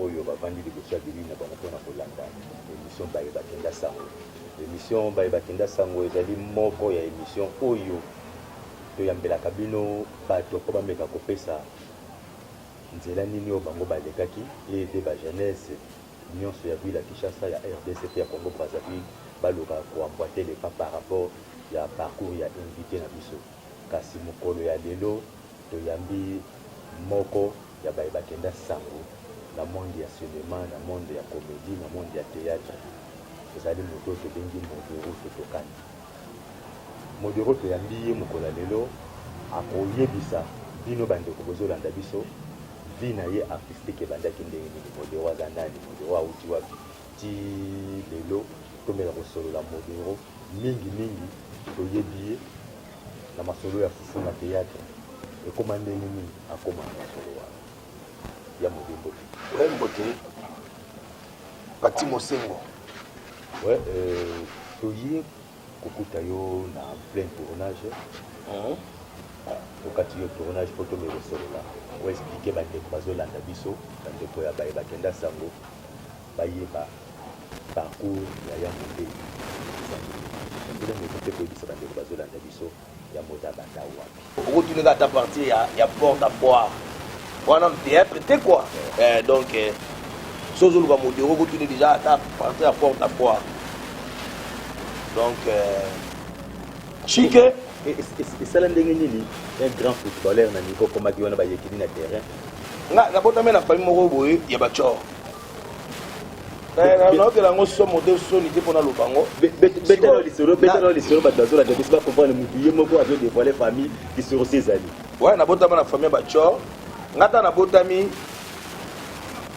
oyo bavandi liboso ya bilili na bango pona kolanda emission baye bakenda sango. Emission baye bakenda sango ezali moko ya emission oyo toyambelaka bino bato po bameka kopesa nzela nini oyo bango balekaki eye pe ba jeunesses nionso ya ville ya Kinshasa, ya rdc pe ya Congo-Brazzaville baloka ko emboiter le pas par rapport ya parcours ya invite na biso. Kasi mokolo ya lelo toyambi moko ya baye bakenda sango na monde ya cinema, na monde ya comedie, na monde ya theatre. Ezali moto oyo tobengi Modero Totokana. Modero toyambi ye mokolo ya lelo akoyebisa bino ba ndeko bozolanda biso vie na ye artistique ebandaki ndenge nini, Modero aza nani, Modero awuti wapi? Tii lelo, tomela kosolola Modero. Mingi mingi, toyebi ye na masolo ya fufu na theatre. Ekoma ndenge nini akoma na masolo wana? Ya Mode, mbote. Ouais, mbote. Pati Mosengo. Ouais, euh, toye kokuta yo na plein tournage. Hum. tokati yo tournage mpo tomekosolola oexplike bandeko bazolanda biso bandeko ya baye bakenda sango bayeba parcours ya ya moteyi eza nini ndenge moto mpe koyebisa bandeko bazolanda biso ya moda banda wapi okotuneka ata partir ya, ya porte à boire wana theatre te quoi eh, donc eh, si ozoluka modero okotuni déjà ata partir ya porte à boire donc eh, chike esala ndenge nini un grand footballeur na niveau komaki wana bayekini na terrain nga nabotami na famille moko boye ya bachor naokela yango somo te soni te mpo naloba yango betelo lisolo betelo lisolo bato bazolanda biso bakomprendre motu ye moko azo devoile famille lisolo se ezali waya nabotama na famille ya bachor nga ata nabotami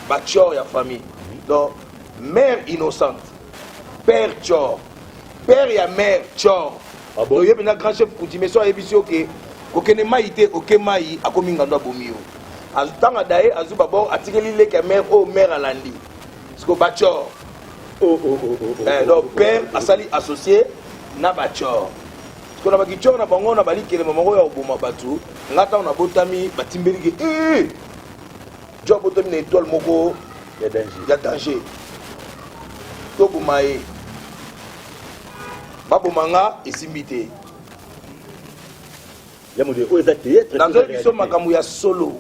bachor ya famille donc mère innocente père chor père ya mère chor Ah bon? Oyebi na grand chef Kudime so ayebisi yo ke kokende mai te oke mai akomi ngando abomi yo. Azutanga daye azu babor atikeli leki ya mère oyo mère alandi. Siko bachor. Oh, oh, oh, oh, oh, Eh, oh, donc oh, père oh, oh. asali associé na bachor. Siko na bakichor na bango na balikelema moko ya koboma bato. Nga ntango nabotami batimbeli ke eh, jo abotami na étoile moko Ya danger. ya danger toboma ye baboma nga esimbi te nazoyi biso makambo ya solo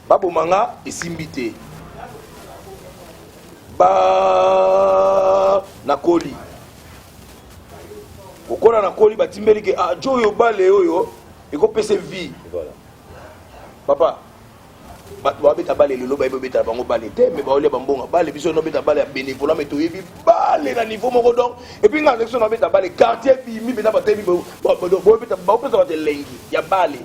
baboma nga esimbi te ba nakoli kokola nakoli batimbeli ke ah, jo oyo bale oyo ekopesa vie voilà. papa bato babeta bale lelo bayebi obetala bango bale te me baolia bambonga bale biso nobeta bale ya bénévolat me toyebi bale na niveau moko donc epuis ngai azaki so nabeta bale quartier bimi mpenza bato yebi baopesa bato elengi ya bale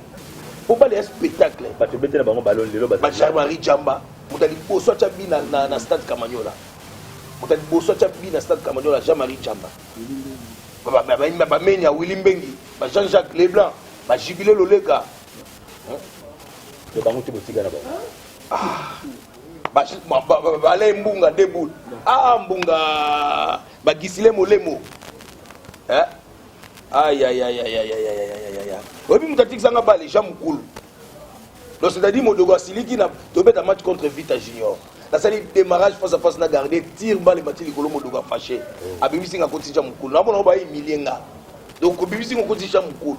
po bale ya spectacle bato obetela bango bale lelo bacharmari jamba moto ya liboso atya bi na stade kamanyola moto ya liboso atya bi na stade kamanyola jean marie jamba bameni ya willi mbengi ba jean jacques leblanc bajibile loleka to bango te botika na bango ah, bale mbunga de boule ah mbunga bagisile molemo eh? ayayayayayayayaya oyebi moto atikisanga bale jean mokulu donc c'est-à-dire modogo asiliki na tobeta match contre vita junior nasali démarrage face à face na garde tire bale mati likolo modogo afashe mm. abimisi nga kotija mokulu namona ngo baimilie nga donc obimisi ngo kotija mokulu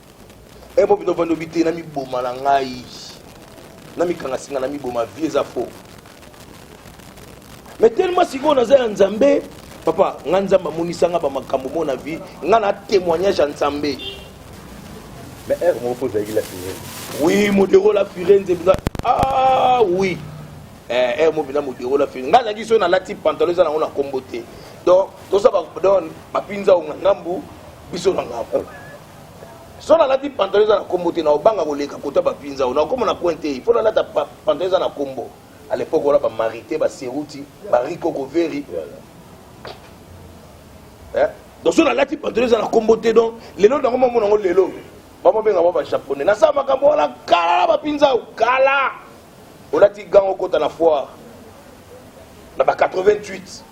e bo bino vandi obite na miboma na ngai na mikanga singa na miboma vie eza faux mais tellement sikoyo naza ya nzambe papa nga nzambe amonisa nga bamakambo mo na vie nga na témoignage ya nzambe mais heure moko mpo ozalaki la firenze oui modero la firenze mpenza ah oui heure eh, moko mpenza modero la firenze nga azalaki soki nalati pantalon eza nango na nkombo te donc toza donc bapinza onga ngambu biso na ngambu so nalati pantalon eza na nkombo te naobanga koleka kota bapinza oyo nakoma na coin te mpo nalata pantalon eza na nkombo à l'époque wana bamarite baseruti bariko koveri eh? donc so nalati pantalon eza na nkombo te donc lelo nango mamona yango lelo bamobenga mwa bajaponais nasala makambo wana kala na bapinza oyo kala olati gango okota na foire na ba 88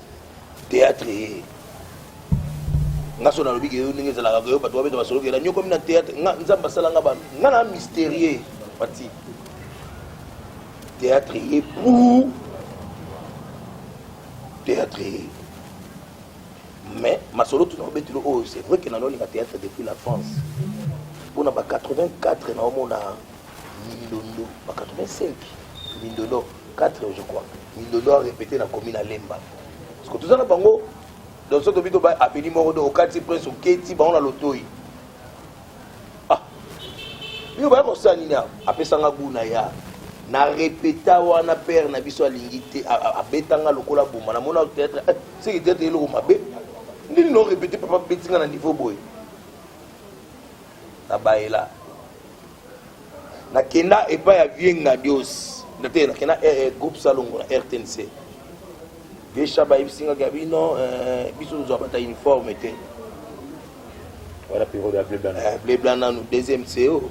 théâtre ye nga so nalobi keyo ndenge ezalaka keyo bato babeta masolo kela nyokomi na théâtre nga nzambe asala nga ba nga na mystérieux pati théâtre ye pour théâtre ye mais masolo tuna obetilo oyo oh, c'est vrai ke nanolinga théâtre depuis la france mpona ba 84 naomona Mindondo ba 85 Mindondo 4 je crois Mindondo a répété na commune à Lemba parce que tout ça na bango donc soki tobi toba apeli moko do okati prince oketi bango na lotoi ah bino baya kosala nini awa apesanga gu na ya na repeta wana père na biso alingi te abetanga lokola boma na mona peut-être eh, seki peut-être eloko mabe nini no repete papa betinga na niveau boye na baela nakenda epai ya vie ngadios nate nakenda eh, eh, groupe salongo na rtnc vie shaba ayebisi ngaki ya bino eh, biso tozwa bata uniforme te wana periode ya blebla nanu deuxième co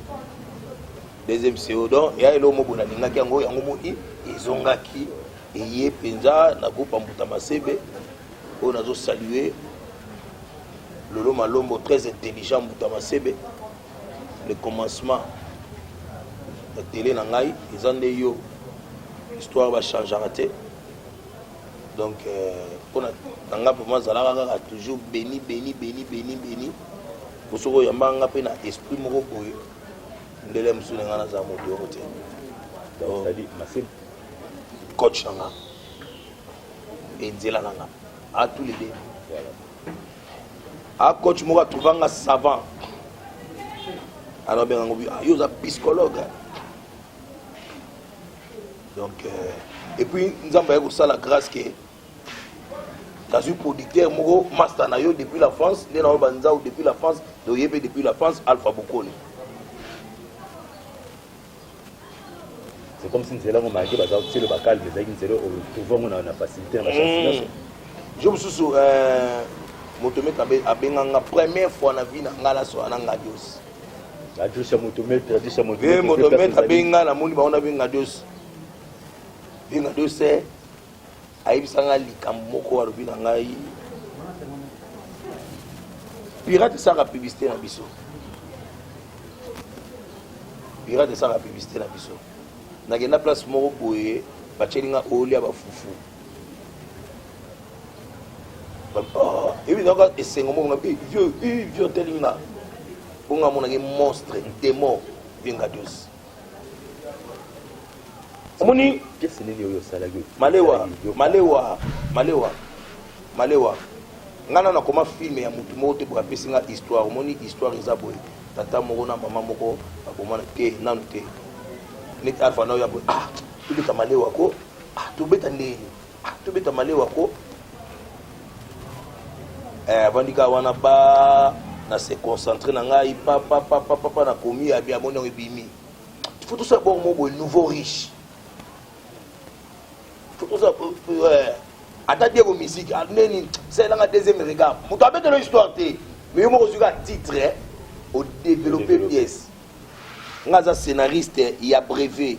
deuxième co donc ya eloo mobo nalingaki yango yango moi ezongaki eye mpenza na groupe ya mbuta masebe oyo nazo salue lolo malombo très intelligent mbuta masebe le commencement ya tele na ngai eza nde yo histoire bachangaka te donc mpona euh, na ngai mpo mazalaka kaka toujours beni beni beni beni beni mpo soki oyamba nga mpe na esprit moko boye ndele mosusu na ngai naza moto yoko te coach na nga et nzela na nga a tous les deux a coach moko atrouva nga savant alors benga ngo ah, yo oza psychologue hein. donc euh, et puis nzambe aye kosala grâce ke nazwi producteur moko master na yo depuis la france nde nayo banzau depuis la france toye mpe depuis la france alpha bokoni c'est comme si nzela ngo maki baza kotiela ba calme ezalaki nzela oyo trouve yango na facilité na bachance mm. nyonso jo mosusu euh, moto mete abenga nga première fois na vie na nga nasola na ngadios ngadios ya moto mete ngadios ya moto mete moto mete abenga namoni bango nabenga ngadios benga ngadios eh. ayebisa ngai likambo moko alobi na ngai pirate esaka publicité na biso pirate esaka publicité na biso nakenda place moko boye batyeli nga olia bafufu oh, ebi naka esengo moko na eh, vieux eh, vieux otelinga bonga monaki monstre demo vinga dose omoni malewa malewa malewa malewa ngai na nakoma filme ya motu moko te boye apesi ngai histoire omoni histoire eza boye tata moko na mama moko babomana te nanu te neti alfa na oyo ya boye ah tobeta malewa ko ah tobeta ndenge Ah, tobeta malewa ko eh, avandika wana ba na se concentre na ngai papapapapa na komi ya bia moni yango ebimi faut tosala bor mo boye nouveau riche faut tosala eh, ata diego musique ah, neni salelanga deuxième regard moto abetela histoire te mais yo moko ozwi ka titre eh, odeveloppe pièce nga aza scénariste ya brevet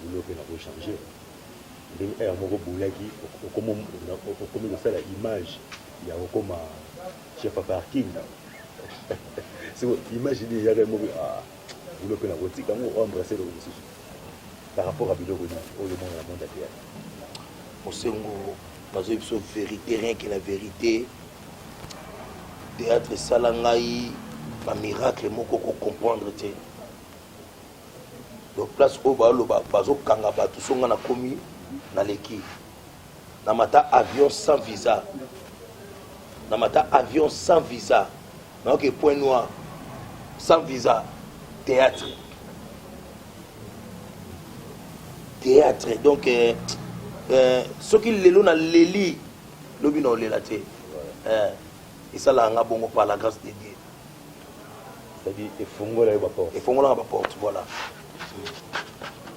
Boulot pe nako changer ndenge heure moko oboulaki okomi kosala image ya kokoma chef ya parking siko image nini eyaka ye moko ah boulot pe nako tika yango o embrasser eloko mosusu par rapport ya biloko nini oyo omona na monde ya théâtre mosengo nazoyi biso verité rien que la verité théâtre esala ngai bamiracle moko kocomprendre te Donc place oyo ba loba bazo kanga batu so nga na komi na leki na mata avion sans visa na mata avion sans visa na oke point noir sans visa théâtre théâtre donc euh, euh, soki lelo na leli lobi na olela te euh, esalaka nga bongo par la grâce de dieu C'est-à-dire, efongola yo ba porte. Efongolaka ba porte, voilà.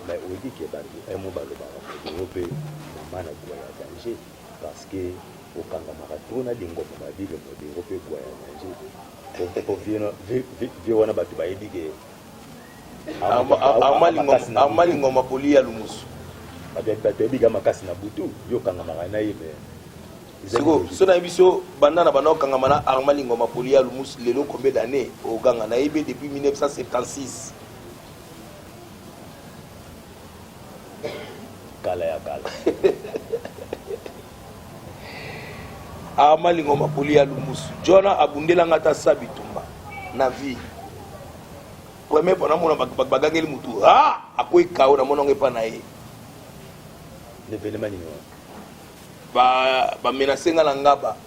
Mais on dit que batu un mot balobaka Congo mpe mama na bwa ya danger parce que okangamaka trop na lingomba ba bible modero mpe bwa ya danger po vie wana bato bayebi ke arma lingomba poli ya lumusu bato bayebi ka makasi na butu yo okangamaka na ye mais sikoyo so nayebi so banda na banda okangama na arma lingoma poli ya lumusi lelo combien d'année oganga nayebi depuis 1976 kala ya kala arma lingoma poli ya lumusu jona abundelanga ata sa bitumba na vie premier mpo namona bagangeli motu a akwei kao namonango epa na ye ndevelema nini wana Ba ba menace nga na ngaba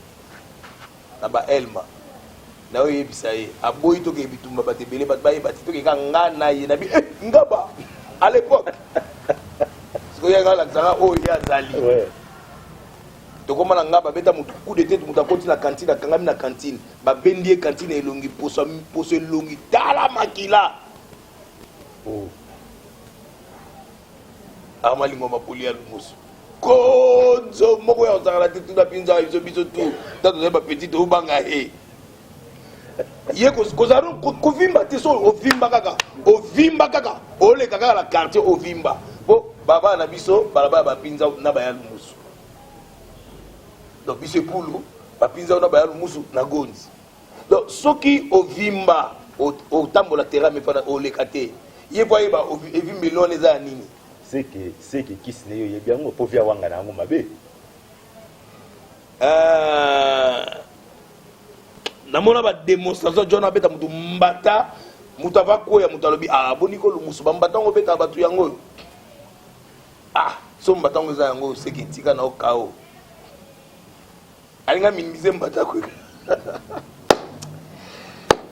na ba elma nayo yebisa ye aboyi tokee bitumba bato ebele bato bayeba te tokee kaka nga na ye na bi eh, ngaba à l'époque sikoyo yanga alakisaka oyo ye azali tokoma na ngaba beta motu coup de tete motu akoti na kantine akangami na kantine babendi ye kantine elongi poso poso elongi tala makila oh. arma lingomba poli ya lumusu konzo moko ya kosakana te tuna mpinza biso biso tu ta tozali bapetit tobanga ye ye kozala kovimba te so ovimba kaka ovimba kaka oleka kaka na quartier ovimba mpo baba na biso balabala bapinza na baya lumusu donc biso epulu bapinza na baya lumusu na gonzi donc soki ovimba otambola terrain mepana oleka te ye po ayeba evimbeli wana eza ya nini seke seke kisi na ye oyebi yango mpo via wanga na yango mabe euh, namona bademonstration jona abeta motu mbata moto ava kweya moto alobi ah, boni kolumusu bambata yango obetaka bato yango oyo ah so mbata yango eza yango seke etika na okao alingi aminimise mbata kweka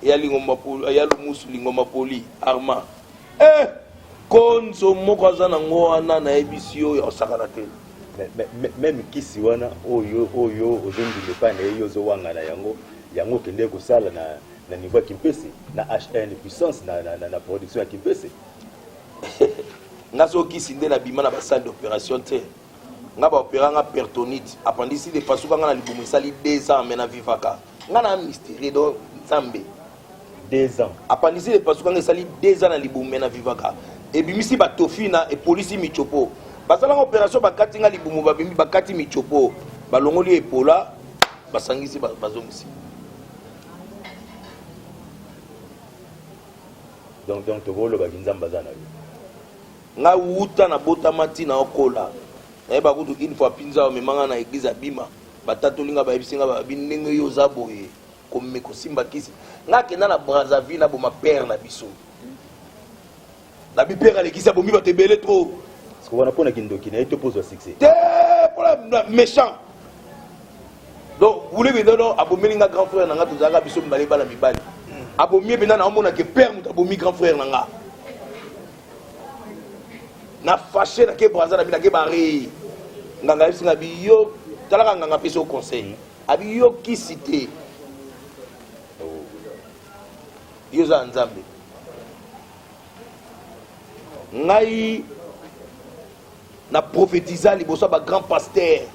ya lingomba poli ya lumusu lingomba poli arma eh konzo moko aza na ngo wana nayebisi yo ya kosakana te meme kisi wana oyo oyo ozondima epai na ye yo ozowangana yango yango okende kosala na, na niveau ya kimpese na hn puissance na, na, na, na production ya kimpese nga so kisi nde nabima na basale d'opération te nga ba opera nga pertonite apandisi de pasuka nga na libumu esali 2 ans mais na vivaka nga na mysterie do nzambe 2 ans apandisi de pasuka nga esali 2 ans na libumu mais na vivaka ebimisi ba tofina epolisi michopo basalanga operation bakati nga libumu babimi bakati michopo balongoli epola basangisi bazongisi donc donc tokolobaki nzambe aza na yo Nga wuta na botama ti na okola nayeba kutu une fois pinza omema nga na eglise abima batatoli nga bayebisi nga babi ndenge yo oza boye kome kosimba kisi nga akenda na brazzaville na boma père na biso nabi père alekisi abomi bato ebele trop wana mpo na kindoki na ye to pozwa succès te mpona méchant donc wule bidono abomeli nga grand frère na nga tozalaka biso mibale bana mibali abomi ye mpenza naomonake père moto abomi grand frère na nga na fâché na ke brazza na bi na ke barre nganga yebisi nga bi yo talaka nganga apesi yo conseil abi yo kisi te yo oza ya nzambe ngai Na prophetisa liboso ya ba grand pasteur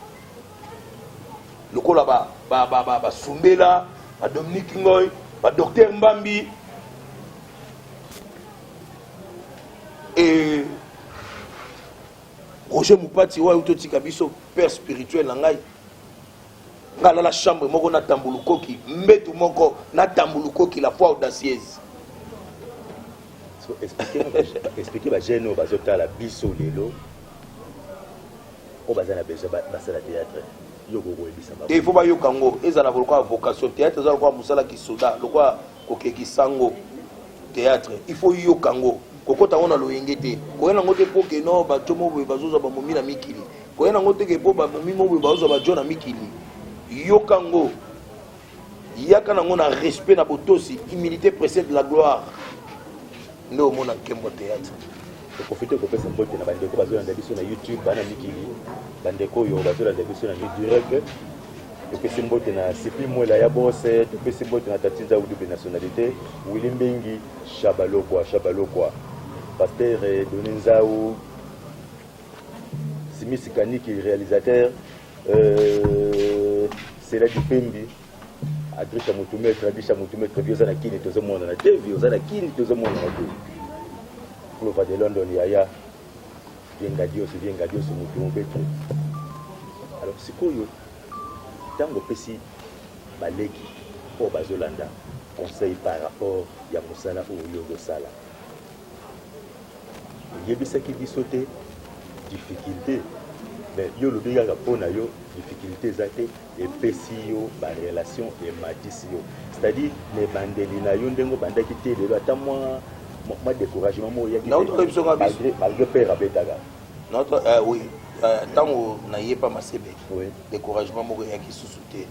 lokola ba ba ba ba, ba Sumbela, ba Dominique Ngoy, ba docteur Mbambi et Roger Mupati oyo totika biso père spirituel na ngai nga lala chambre moko na tambulukoki mbetu moko na tambulukoki la foi audacieuse Expliquer ba jeunes oyo bazo tala biso lelo oyo baza na besoin basala théâtre yo kokoyebisa bango te il faut bayoka yango ezala lokola vocation théâtre eza lokola mosala kisoda lokola kokekisa yango théâtre il faut yoka yango kokota yango na loyenge te koyena yango te mpo keno bato mo boye bazozwa bamomi na mikili koyena yango te ke mpo bamomi mo boye bazozwa bajo na mikili yoka yango Yaka nango na respect na botosi, humilite precede la gloire. Nde omona Nkembo Theatre. Profite kopesa mbote na bandeko bazolanda biso na YouTube, bana mikili, bandeko oyo bazolanda biso na direct topesi mbote na sipi mwela ya bose topesi mbote na tati nzau double nationalité wili mbengi shabalokwa shabalokwa pastere doni nzau simisi kaniki réalisateur Euh, c'est la dipembi adrisa motu maître adrisa motu maître vi oza na kini tozomonana te vi oza na kini tozomonana te clova de london yaya vienga dios vienga dios motu mobetre alors sikoyo ntango opesi baleki oyo bazolanda conseil par rapport ya mosala oyo yo ozosala oyebisaki biso te difficulté mais yo olobi kaka mpo na yo difficulté eza te epesi yo barelation ematisi yo c'est-à-dire na ebandeli na yo ndenge obandaki te lelo ata mwa mwa découragement moko oyaki malgré père abetaka notre euh, oui ntango euh, nayepa masebe découragement moko eyaki susu te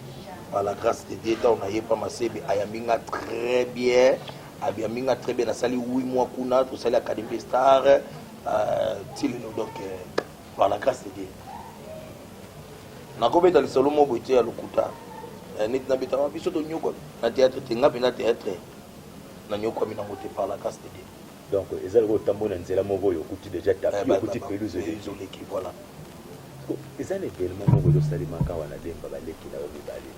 par la grâce de dieu ntango nayepa masebe ayambi nga très bien Abiambi nga très bien nasali 8 mois kuna tosali académie des stars euh, ti lelo donc euh, par la grâce de Dieu nakobeta lisolo moko boye te ya lokuta euh, neti nabetaka biso tonyokwami na théâtre te nga mpenza théâtre nanyokwami nango te par la grâce de Dieu donc eza lokola otamboli na nzela moko oyo okuti déjà tapi Eh, ba- okuti ba- ba- pelouse eh, oleki ezoleki voilà Ko- eza na evenement moko ezosalemaka wana demba baleki na yo mibale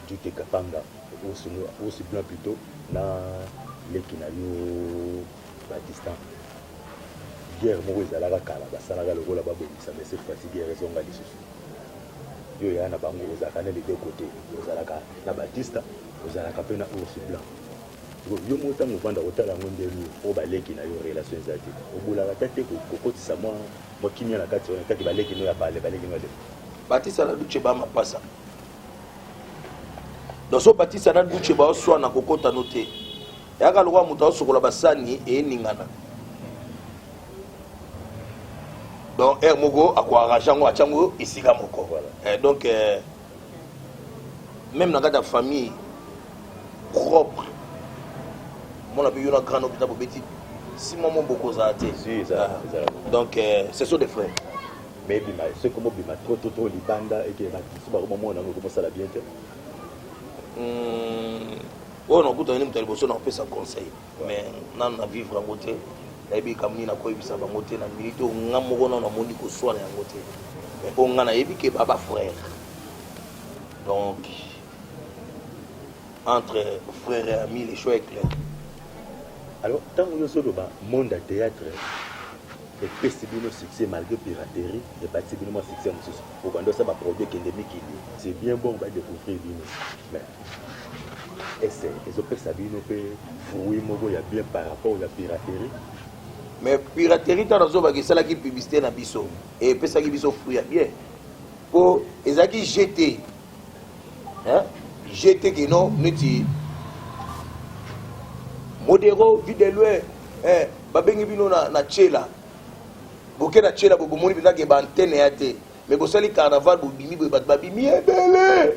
Jute Kapanga ours blanc plutot na leki na yo Batista guerre moko ezalaka kala basalaka lokola babongisa mais cette fois-ci guerre ezonga lisusu yo yaya na bango ozalaka na les deux côtés ozalaka na Batista ozalaka mpe na ours blanc yo moko ntango ovanda kotala yango nde nini oyo baleki na yo relation eza te obolaka ta te kokotisa mwa mwa kimia na kati wana taki baleki no ya pale baleki no ya lelo batisa na duce ba mapasa doso batisa na duce baoswana kokota no te yaka lokola moto aosokola basani eningana donc heure moko akoarrange yango atya yango esika moko eh, donc eh, même na kati ya famille propre mona mpe yo na grand hôpital bobeti si mwa mo bokozala te ah. donc eh, ce sont des frères mais ebima soki ekomi obima trop trop trop libanda eke ba tissu ba komo mona ngo komo sala bien te hmm, oyo nakutana ni moto ya liboso nakopesa conseil mais nanu na vivre yango te nayebi likambo nini nakoyebisa bango te na minute oyo nga moko nano namoni koswana yango te mais oyo nga nayebi ke ba ba frère donc entre frère et ami le choix est clair alors ntango yo ozoloba monde ya théâtre Epesi bino succès malgre piraterie ebakisi bino mwa succès mosusu obanda osala ba produit ekende mikili c'est bien bon ba decouvrir bino mais est ce ezo pesa bino pe fruit moko ya bien par rapport ya piraterie mais piraterie ntango nazobaka esalaki publicité na biso epesaki biso fruit ya bien mpo ezalaki jete hein je te que non neti modero vide loin eh babengi bino na na chela boke na chela bomoni mpenza ke baantene ya te mais bosali carnaval bobimi boye bato babimi ebele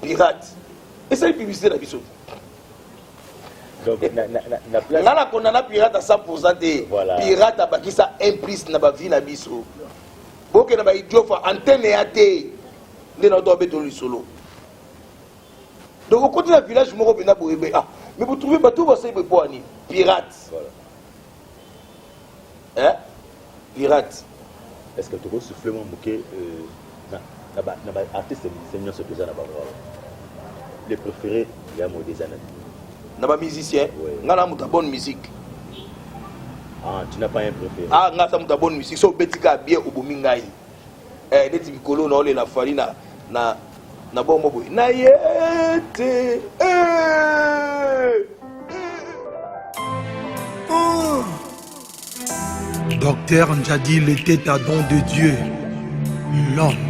pirate esali publicité na biso nga na kondana pirate a 100 te pirate abakisa 1 plus na bavi na biso bokenda baidiot fa antene ya te nde na to abetolo lisolo donc okoti na village moko mpena boyebe ah mais vous trouvez bato basali boye mpo ani pirate hein pirate est ce que tokosouffle mwa moke euh, na baartiste musicien nyonso toza na bango le préféré ya mode eza na na bamusicien ngai na moto ya bonne musique ah, tu n'as pas un préféré ah ngai aza moto ya bonne musique so obeti kaka bien obomi ngai eh, neti mikolo na olela fali na, na, na bongo boye na ye te eh. Oh. Docteur Njadi l'était à don de Dieu, l'homme.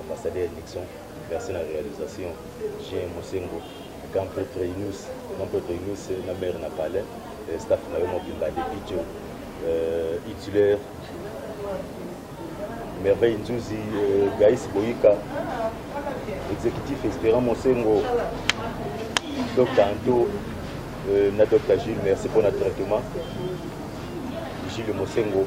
Ambassadeur Nixon, merci na realisation. Jean Mosengo, Grand Prêtre Inus, Grand Prêtre Inus na maire na palais, euh, staff na yo mobimba de Picho, euh, Hitler, Merveille Nzuzi, euh, Gaïs Boyika, exécutif Espérant Mosengo, Dr Anto, euh, na Dr Gilles, merci pour notre traitement. Gilles Mosengo.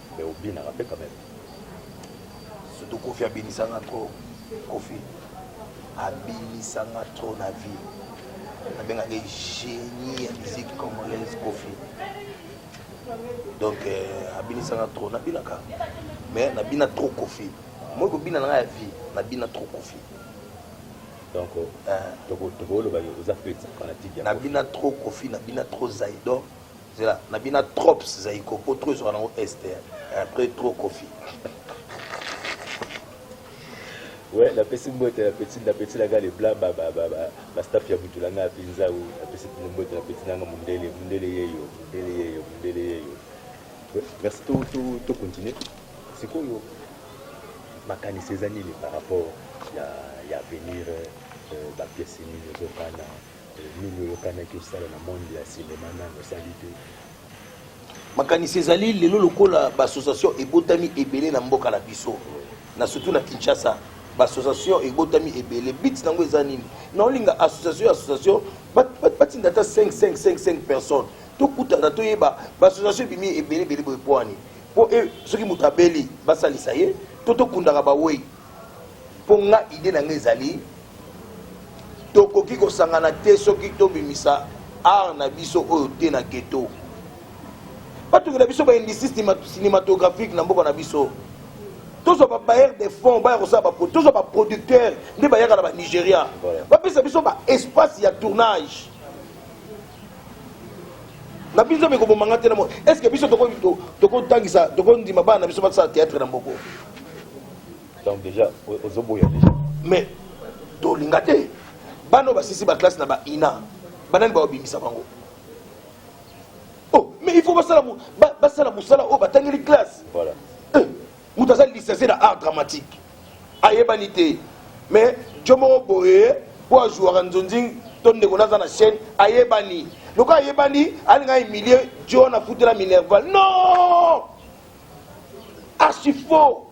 Mais obinaka pe quand même. Surtout Kofi abinisanga trop. Kofi abinisanga trop na vie. Nabengaka ye génie ya musique congolaise Kofi. Donc euh, abinisanga trop nabinaka. Mais nabina trop Kofi. Moi kobina na nga ya vie nabina trop Kofi. donc euh, tokoloba oza fanatique nabina trop kofi nabina trop zaidor Zela na bina trops zaiko po trop ezwa nango est eh, après trop kofi ouais napesi mbote na petit na petit nanga le blanc ba ba ba ba, ba staff ya mutu nanga pinza ou napesi bino mbote na petit nanga mundele mundele yeyo mundele yeyo mundele yeyo ouais, merci to to to continuer sikoyo makanisi eza nini par rapport ya ya avenir euh, ba pièces nini ezokana Nini oyokanaki osala na monde ya cinema nano osali te? Makanisi ezali lelo lokola ba association ebotami ebele na mboka na biso na surtout na Kinshasa ba association ebotami ebele but nango eza nini na olinga association association batinda ata 5 5 5 5 personnes tokutana toyeba ba association ebimi ebele ebele boye pwani mpo e, soki moto abeli basalisa ye to tokundaka bawei Mpo nga idee na nga ezali tokoki kosangana te soki tobimisa art na biso oyo te na ghetto batungi na biso baindustrie cinématographique na mboka na biso tozwa babailleur de fonds baya kosala baprodu tozwa baproducteur nde bayaka na banigeria bapesa biso baespace ya tournage na biso mikoboma nga te na mo est ce que biso tokotangisa tokondima bana na biso basala théâtre na mboko donc déjà ozoboya déjà mais tolinga te bana oyo basilisi baklasse na baina banani baobimisa bango oh mais il faut basala basala mosala oyo batangeli classe voilà eh, moto aza licencie na art dramatique ayebani te mais jo moko boye mpo azuwaka nzonzing to ndeko naza na chaîne ayebani lokola ayebani alinga humilie jo na futela minerval non archi faux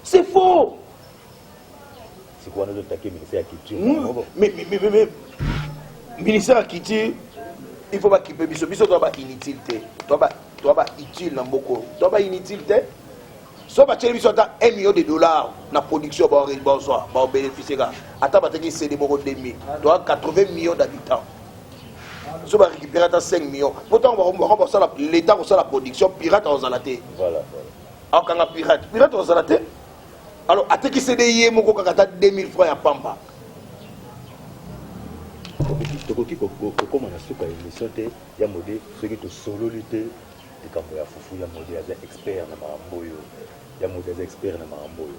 c'est faux sikoyo wana ozotake ministère ya culture ministère ya culture il faut bakipe biso biso toa ba inutile te toa ba utile na mboko toa ba inutile te so batieli biso ata 1 million de dollars na production bazwa baobénéficie kaka ata bateki cd moko 2000 toa 80 millions d'habitants so ba récupérer ata 5 millions po ntango bakobaka basala l'état akosala production pirate akozala te akokanga pirate pirate akozala te alors atekisi nde ye moko kaka ata 2000 francs ya pamba tokoki kokoma na suka ya émission te ya mode soki tosololi te likambo ya fufu ya mode aza expert na makambo oyo ya mode aza expert na makambo oyo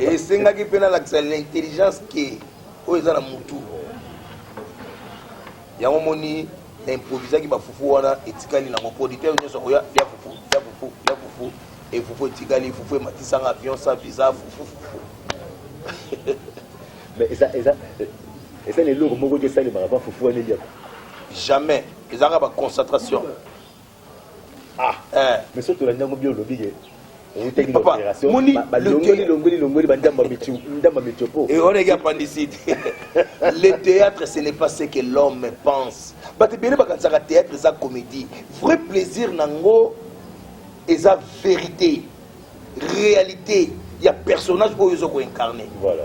Esengaki mpe nalakisa l'intelligence que oyo eza na mutu yango moni na improvisaki bafufu wana etikali nango producteur nyonso akoya lia fufu lia fufu lia fufu e fufu etikali fufu ematisanga avion sa visa fufu fufu mais eza eza eza na eloko moko te esalemaka mpa fufu wana eliaka jamais ezalaka baconcentration Ah, eh. mais surtout la nyango bio olobi ke outaki na opération balongoli longoli longoli bandamba ndamba metiopo et on est appendicite le théâtre ce n'est pas ce que l'homme pense bato ebele bakanisaka théâtre eza comédie vrai plaisir nango eza vérité réalité ya personnage oyo ozo koincarne voilà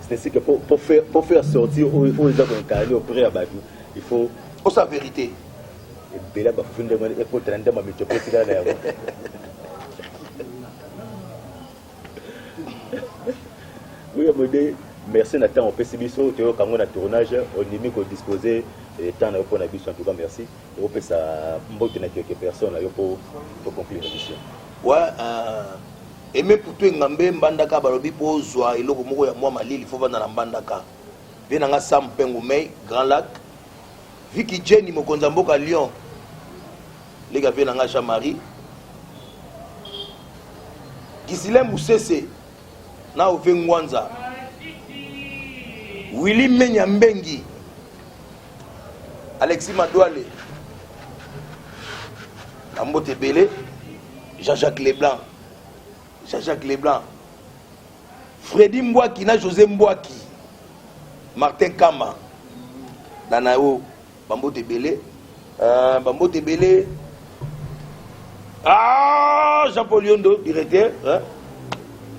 c'est ce que pour, pour, faire, pour faire sortir oyo eza koincarne auprès ya bato il faut osa vérité ebela bafuti ndenge wana ekotana nde mamito mpe etikala na yango oyo mode merci na ntango opesi biso toyoka yango na tournage ondimi kodispose eh, temps na yo mpo na biso en tout cas merci opesa mbote na quelque personne na yo mpo toconclure émission wa euh, eme putu engambe mbandaka balobi mpo ozwa eloko moko ya mwa malili fo vanda na mbandaka Vieux na nga Sam Pengu Mei, Grand Lac. Vicky Jenny, mokonzi ya mboka Lyon. Lega vieux na nga Jean-Marie. Gisilem Musese, na Ove Ngwanza. Willy Menya Mbengi. Alexis Madouale. Na mbote ebele. Jean-Jacques Leblanc. Jean-Jacques Leblanc. Freddy Mbwaki na Jose Mbwaki Martin Kama na na yo bambote ebele uh, bambote ebele ah, Jean Paul Yondo directeur hein?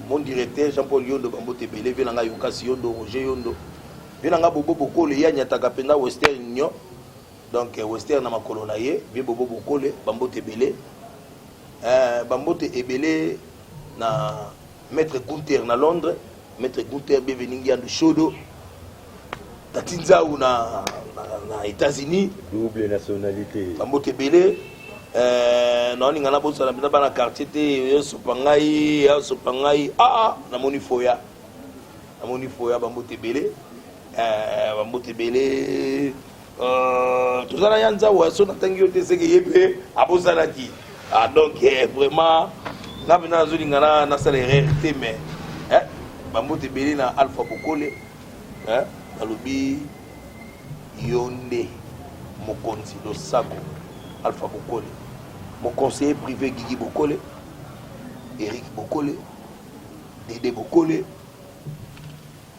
mon directeur Jean Paul Yondo bambote ebele vie na ngai Yukasi Yondo Roger Yondo vie na ngai Bobo Bokole ye anyataka mpenza Western Union donc euh, Western na makolo na ye vie Bobo Bokole bambote ebele uh, bambote ebele na Maitre Gunther na Londres, Maitre Gunther Bienvenu Ngiandu Shodo, Tati Nzau na, na, na États-Unis. Double nationalité. Bambote ebele. Euh, naoninga nabosana mpenza bana quartier te yosopa ngai asopa ngai aa ah, ah, namoni foya namoni foya bambote ebele euh, bambote ebele Euh, toza na ya nzawa so natangi yo te seke ye mpe abosanaki ah, donc eh, vraiment nga mpe nazolinga nasala erreur te mais eh, bambote ebele na alpha bokole eh, nalobi yo nde mokonzi losako alpha bokole moconseiller privé gigi bokole eric bokole dede bokole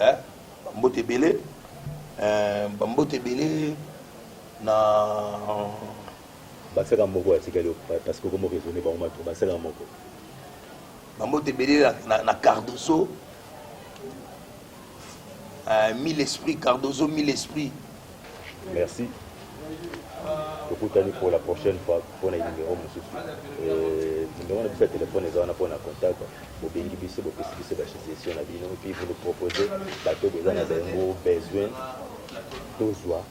Eh, ba mbote ebele. Eh, ba mbote ebele na baseka moko atikali parce que okomo raisonner bango bato baseka moko bambote ebele na, na cardoso uh, mille esprit cardoso mille esprit Merci. tokutani pour la prochaine fois mpo na numero mosusu euh, numero na biso ya telefone eza wana mpo na contact bobengi biso bopesi biso basuggestion na bino puis vous nous propose bato boza na bango besoin tozwa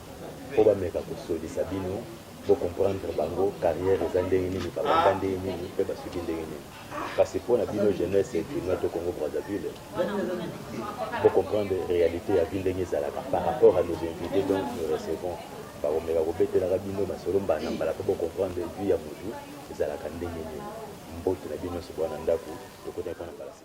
mpo bameka kosolisa bino bo comprendre bango carrière eza ndenge nini babanda ndenge nini mpe basuki ndenge nini kasi mpo na bino jeunesse ekima to congo brazzaville bo comprendre réalité ya vie ndenge ezalaka par rapport à nos invités donc nous recevons bakomeka kobetelaka bino masolo mbala na mbala mpo bo comprendre vie ya motu ezalaka ndenge nini mbote na bino nyonso bwana ndako tokotaki mpo na balasi